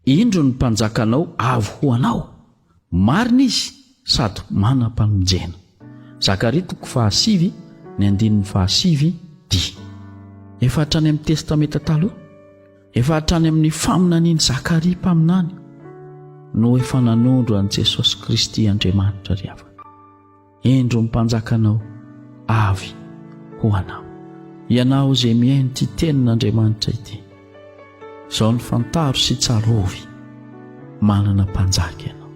indro ny mpanjakanao avy ho anao marina izy sady manam-pamonjena zakaria toko fahasivy ny andinin'ny fahasivy dia efa hatrany amin'ny testamenta taloha Efa hatrany amin'ny faminanian'i Zakaria mpaminany no efa nanondro an'i Jesosy Kristy Andriamanitra ry havana. Endro ny mpanjakanao avy ho anao. Ianao izay mihaino ity tenin'Andriamanitra ity, izao ny fantaro sy tsarovy, manana mpanjaka ianao.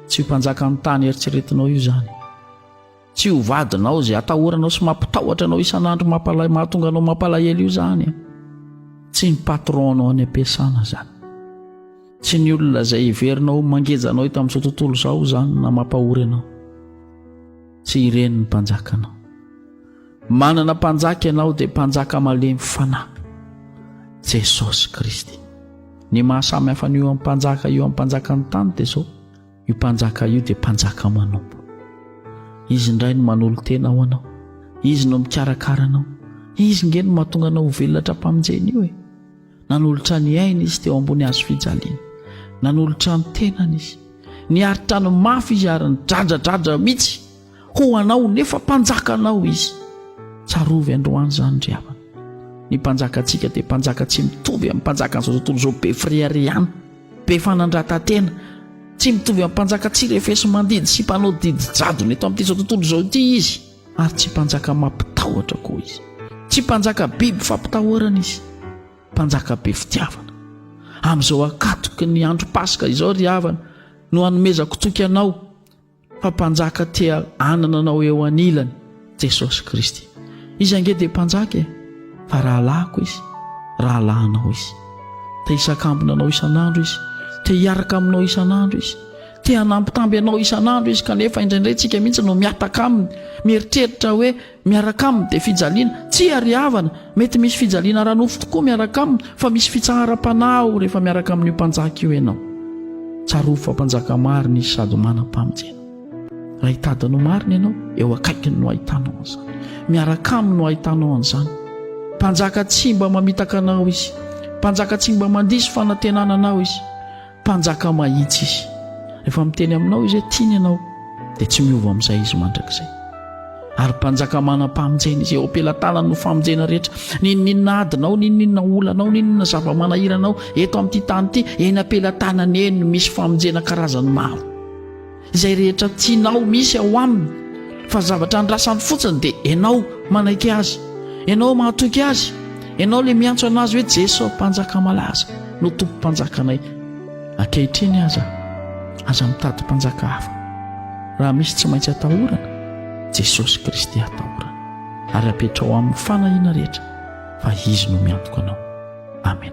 Tsy io mpanjakan'ny tany eritreretinao io izany. Tsy ho vadinao izay atahoranao sy mampitahotra anao isan'andro mampalay mahatonga anao mampalahelo io zany. Tsy ny patron anao any am-piasana zany. Tsy ny olona izay heverinao mangeja anao eto amin'izao tontolo izao zany na mampahory anao. Tsy ireny ny mpanjakanao. Manana mpanjaka ianao dia mpanjaka malemy fanahy. Jesosy Kristy. Ny mahasamy hafa an'io amin'ny mpanjaka io amin'ny mpanjakan'ny tany dia izao. Io mpanjaka io dia mpanjaka manompo. Izy indray no manolo-tena ho anao. Izy no mikarakara anao. Izy nge no mahatonga anao ho velona tra-pamonjena io e. Nanolotra ny aina izy teo ambony hazo fijaliana. Nanolotra ny tenany izy. Niaritra ny mafy izy ary nidradradradra mihitsy. ho anao nefa mpanjakanao izy tsarovy androany zany ry havana ny mpanjaka antsika dia mpanjaka tsy mitovy amin'ny mpanjaka an'izao tontolo izao be fireharehana be fanandratantena tsy mitovy amin'ny mpanjaka tsy refesy mandidy sy mpanao didy jadona eto amin'ity izao tontolo izao ity izy ary tsy mpanjaka mampitahotra koa izy tsy mpanjaka biby fampitahorana izy mpanjaka be fitiavana amin'izao akatoky ny andro paska izao ry havana no hanomezako toky anao fa mpanjaka te hanana anao eo anilany Jesosy Kristy. Izy ange dia mpanjaka e, fa rahalahiko izy, rahalahinao izy. Te hisakambina anao isan'andro izy, te hiaraka aminao isan'andro izy, te hanambitamby anao isan'andro izy kanefa indraindray tsika mihitsy no miataka aminy, mieritreritra hoe miaraka aminy dia fijaliana, tsia ry havana, mety misy fijaliana ara-nofo tokoa miaraka aminy, fa misy fitsaharam-panahy ao rehefa miaraka amin'io Mpanjaka io ianao. Tsarovy fa Mpanjaka marina Izy sady manam-pamonjena. Raha hitady ny ho marina ianao, eo akaikiny no ahitanao an'izany. Miaraka aminy no ahitanao an'izany. Mpanjaka tsy mba mamitaka anao Izy. Mpanjaka tsy mba mandiso fanantenana anao Izy. Mpanjaka mahitsy Izy. Rehefa miteny aminao Izy hoe tiany ianao, dia tsy miova amin'izay Izy mandrakizay. Ary Mpanjaka manam-pamonjena Izy. Eo am-pelatanany no famonjena rehetra. N'inon'inona adinao, n'inon'inona olanao, n'inon'inona zava-manahiranao eto amin'ity tany ity, eny am-pelatanany eny no misy famonjena karazany maro. Izay rehetra tianao misy ao aminy fa zavatra andrasany fotsiny dia ianao manaiky azy, ianao mahatoky azy, ianao ilay miantso anazy hoe Jeso mpanjaka malaza no tompo mpanjakanay ankehitriny aza aza mitady mpanjaka hafa raha misy tsy maintsy atahorana Jesosy Kristy atahorana ary apetrao amin'ny fanahiana rehetra fa izy no miantoka anao. Amen.